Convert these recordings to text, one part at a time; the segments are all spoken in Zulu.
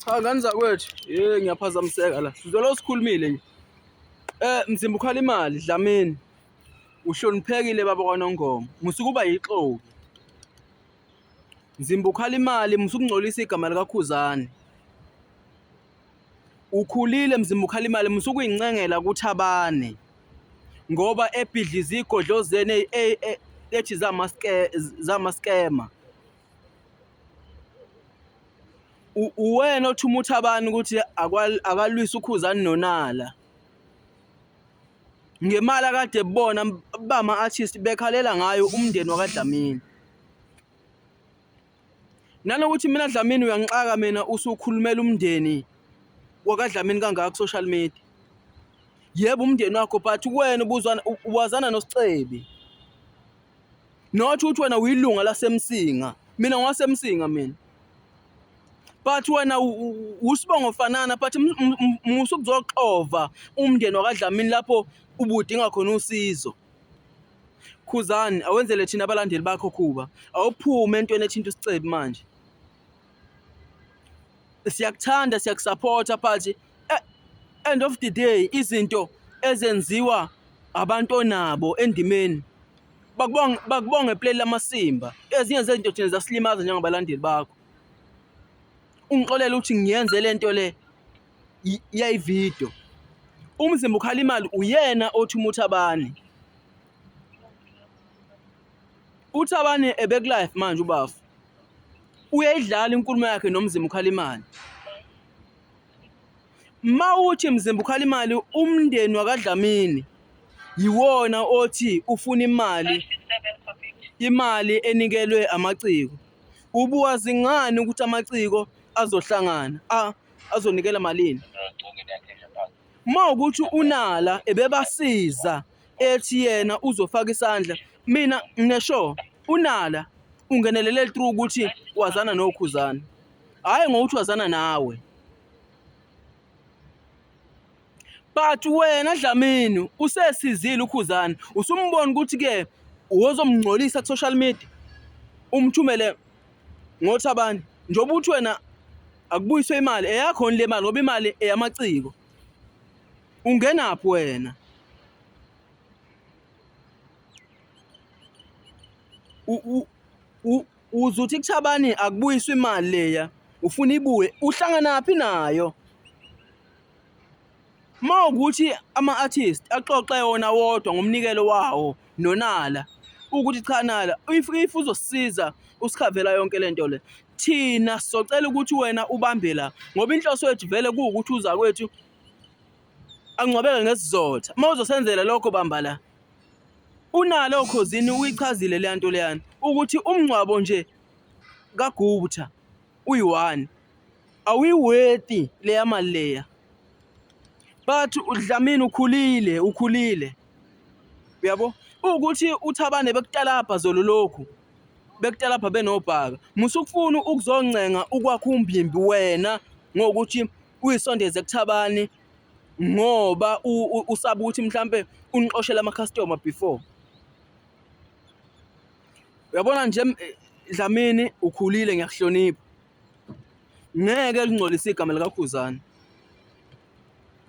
Cha ngani zakwethu, hey ngiyaphazamiseka la. Sizolo sikhulumile nje. Eh mzimba ukhala imali Dlamini. Uhloniphekile baba kwaNongoma. Musukuba yixoki. Mzimba ukhala imali musukungcolisa igama likaKhuzani. Ukhulile mzimba ukhala imali musukuyincengela kuthabane. Ngoba ebhidliza igodlo zene ethi zamaske zamaskema. uwena othi umuthi abantu ukuthi akalwisa ukhuzani nonala ngemali akade bona bama artist bekhalela ngayo umndeni wakadlamini nanokuthi mina dlamini uyangixaka mina usukhulumela umndeni wakadlamini kangaka ku social media yebo umndeni wakho but kuwena ubuzwana uwazana nosicebi Not ukuthi wena uyilunga lasemsinga. Mina ngwasemsinga mina. But wena usibongo fanana but musu kuzoxova umndeni wakadlamini lapho ubudinga khona usizo. Khuzani awenzele thina abalandeli bakho Khuba. Awuphume entweni ethinta isicebi manje. Siyakuthanda siyakusupporta but eh, end of the day izinto ezenziwa abantu onabo endimeni bakubonge bakubonge play lamasimba ezinye zezinto thina zasilimaza njengabalandeli bakho ungixolela ukuthi ngiyenze lento le yayivideo umzimba ukhala imali uyena othi umuthi abani uthi abani ebek life manje ubafu uyayidlala inkulumo yakhe nomzimba ukhala imali Mawuthi mzimba ukhala imali umndeni wakadlamini yiwona othi ufuna imali imali enikelwe amaciko ubuka zingani ukuthi amaciko azohlangana a azonikela malini uma ukuthi unala ebebasiza ethi yena uzofaka isandla mina ngisho unala ungenelele through ukuthi wazana nokhuzana hhayi ngokuthi wazana nawe but wena Dlamini usesizile ukhuzana usumbona ukuthi ke wozomngcolisa ku social media umthumele ngothi abani njengoba uthi wena akubuyiswe imali eyakho le mali ngoba imali eyamaciko ungenaphi wena u Uzuthi kuThabani akubuyiswe imali leya ufuna ibuye uhlanganaphi nayo uma ukuthi ama-artist axoxe wona wodwa ngomnikelo wawo nonala ukuthi cha nala if if uzosisiza usikhavela yonke lento le thina socela ukuthi wena ubambe la ngoba inhloso yethu vele kuwukuthi uza kwethu angcwabeke ngesizotha uma uzosenzela lokho bamba la UNalo Khozini uyichazile leya nto leyana ukuthi umngcwabo nje kaGupta uyi-one awuyiweti leya mali leya but uDlamini ukhulile ukhulile uyabo ukuthi uthabane bekutalabha zolo lokhu bekutalabha benobhaka musukufuna ukuzoncenga ukwakha umbimbi wena ngokuthi uyisondeze kuthabani ngoba usaba ukuthi mhlampe unixoshela ama-customer before uyabona nje eh, Dlamini ukhulile ngiyakuhlonipha ngeke lingcolise igama likakhuzana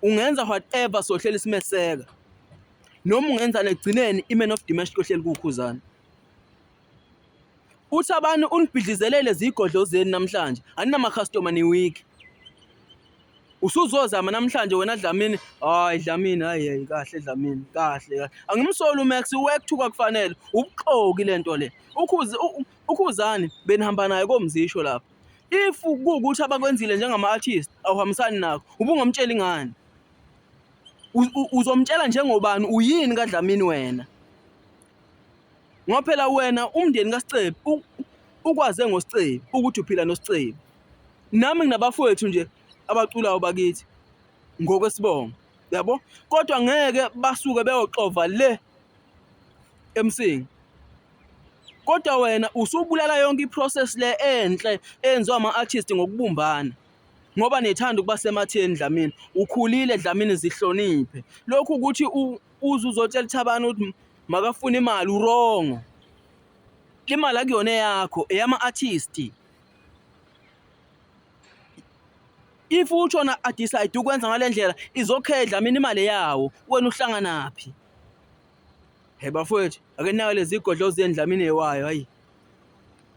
ungenza whatever sohlela isimeseka noma ungenza negcineni iman of the match kohleli kukhuzana UThabani unibhidlizelele zigodlo zenu namhlanje. Aninamakhastoma niwiki. Usuzozama namhlanje wena Dlamini. Hayi Dlamini, hayi hayi kahle Dlamini. Kahle kahle. Angimsoli uMax uwekuthuka kufanele. Ubuxoki lento le. Ukhuzi ukhuzani benihamba naye komzisho lapha. If kuwukuthi abakwenzile njengama artist awuhambisani nakho. Ubungamtsheli ngani? Uzomtshela njengobani uyini kaDlamini wena? Ngoba phela wena umndeni kaSicebi ukwaze ngoSicebi ukuthi uphila noSicebi. Nami nginabafowethu nje abaculayo bakithi ngokwesibongo. Yabo? Kodwa ngeke basuke beyoxova le emsingi. Kodwa wena usubulala yonke iprocess le enhle eyenziwa ama-artist ngokubumbana. ngoba nethanda ukuba sematheni Dlamini ukhulile Dlamini zihloniphe lokhu ukuthi uze uzotshela ithabani ukuthi makafuna imali urongo imali akuyona eyakho eyama-artist if utshona adecide ukwenza ngale ndlela izokhedla mina imali yawo wena uhlanganaphi he bafowethu ake naka lezi godlo zendlamini yewayo hayi